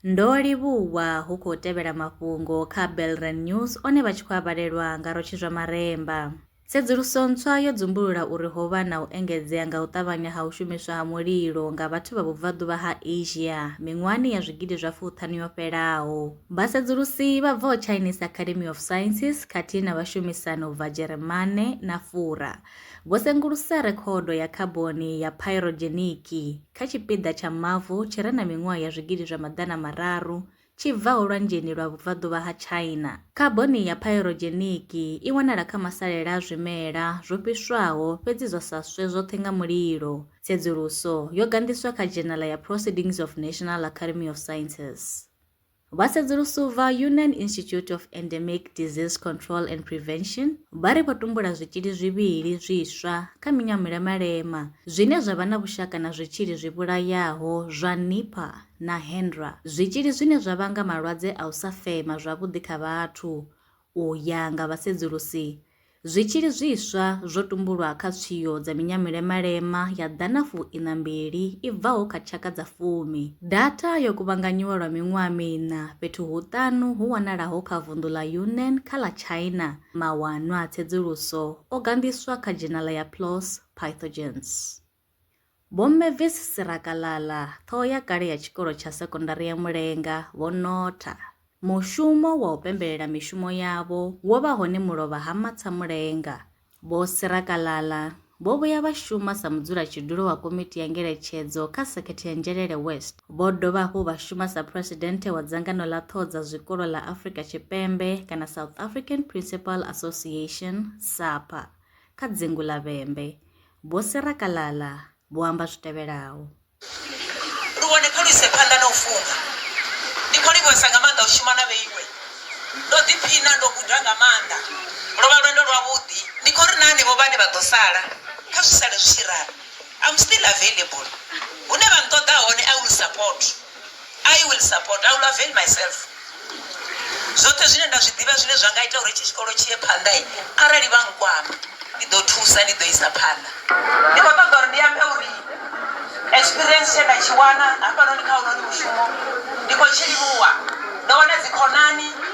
Ndo livhuwa hu khou tevhela mafhungo kha Belren News one vha tshi khou a vhalelwa nga Rotshi zwa Maremba. Tsedzuluso ntswa yo dzumbulula uri ho vha na u engedzea nga u ṱavhanya ha u shumiswa ha mulilo nga vhathu vha vhubvaḓuvha ha Asia miṅwahani ya zwigidi zwa fuṱhanu yo fhelaho. Vhasedzulusi vha bvaho Chinese Academy of Sciences khathihi na vhashumisani u bva Dzheremane na Fura Vho sengulusa rekhodo ya khaboni ya phaerodzheniki kha tshipiḓa tsha mavu tshi re na miṅwaha ya zwigidi zwa maḓana mararu tshi bvaho lwanzheni lwa vhubvaḓuvha ha China. Khaboni ya phaerodzheniki i wanala kha masalela a zwimela zwo fhiswaho fhedzi zwa sa swe zwoṱhe nga mulilo. Tsedzuluso yo ganḓiswa kha dzhenala ya Proceedings of National Academy of Sciences. Vhasedzulusi vha Yunnan Institute of Endemic Disease Control and Prevention vha ri vho tumbula zwitzhili zwivhili zwiswa kha minyamelo ya malema zwine zwa vha na vhushaka na zwitzhili zwi vhulayaho zwa Nipah na Hendra, zwitzhili zwine zwa vhanga malwadze a u sa fema zwavhuḓi kha vhathu, U ya nga vhasedzulusi, zwitzhili zwiswa zwo tumbulwa kha tswio dza minyamulemalema ya ḓana fuiṋa mbili i bvaho kha tshaka dza fumi. Data yo kuvhanganyiwa lwa miṅwaha miṋa fhethu huṱanu hu wanalaho kha vunḓu ḽa Yunnan kha ḽa China. Mawanwa a tsedzuluso o ganḓiswa kha dzhenala ya PLOS Pythogens. Vhomme Visi Sirakalala, ṱhoho ya kale ya tshikolo tsha sekondari ya Mulenga, vho notha. Mushumo wa u pembelela mishumo yavho wo vha hone mulovha ha Matsha Mulenga. Vho Sirakalala vho vhuya vha shuma sa mudzulatshidulo wa komiti ya ngeletshedzo kha sekhethe ya Njelele West. Vho dovha hafhu vha shuma sa phresidennde wa dzangano ḽa ṱhoho dza zwikolo ḽa Afrika Tshipembe kana South African Principal Association, SAPA, kha dzingu ḽa Vhembe. Vho Sarah Kalala vho amba zwi tevhelaho. Luvhone kha lu ise phanḓa na u funga. Ndi khou livhuwesa nga maanḓa u shuma na vheiwe. Ndo ḓiphina, ndo guda nga maanḓa. Lwo vha lwendo lwavhuḓi. Ndi khou ri na henevho vhane vha ḓo sala, kha zwi sale zwi tshi ralo. I'm still available. Hune vha nṱoḓa hone, I will support. I will support, I will avail myself zwoṱhe zwine nda zwi ḓivha zwine zwa nga ita uri itshi tshikolo tshi ye phanḓa i arali vha nkwama ndi ḓo thusa ndi ḓo isa phanḓa ndi khou ṱoḓa uri ndi ambe uri experience tshe nda tshi wana hafhanoni kha unoni mushumo ndi khou tshi livhuwa ndo wana dzikhonani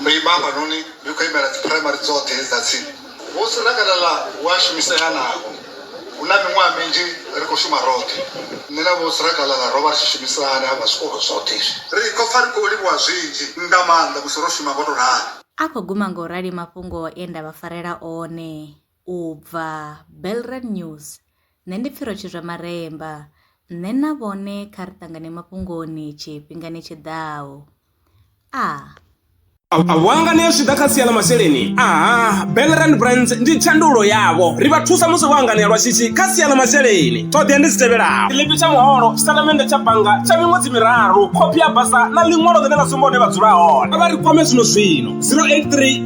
Ndo ima hafhanoni ndi khou imela dziphuraimari dzoṱhe dza tsini. Vho Sirakalala hu a shumisea navho. Hu na miṅwaha minzhi ri khou shuma roṱhe. Nṋe na Vho Sirakalala ro vha ri tshi shumisana hafha zwikolo zwoṱhe izwi. Ri khou pfa ri khou livhuwa zwinzhi nga maanḓa musi ro shuma ngo tou ralo. A khou guma nga u rali mafhungo e nda vha farela one. u bva Belrand News, Nṋe ndi Pfhiro Tshizwamaremba, Nṋe na vhone kha ri ṱangane mafhungoni tshifhingani tshi ḓaho. A. Vhuanga ni a zwi ḓa kha sia ḽa masheleni aha belrand brands ndi tshandulo yavho ri vha thusa musi vho anganea lwa shishi kha sia ḽa masheleni ṱhoḓea ndi dzi tevhelaho ḽipi tsha muholo tshitatamennde tsha bannga tsha miṅwedzi miraru khophi ya basa na ḽiṅwalo ḽine ḽa sumba hune vha dzula hone vha ri kwame zwino zwino 083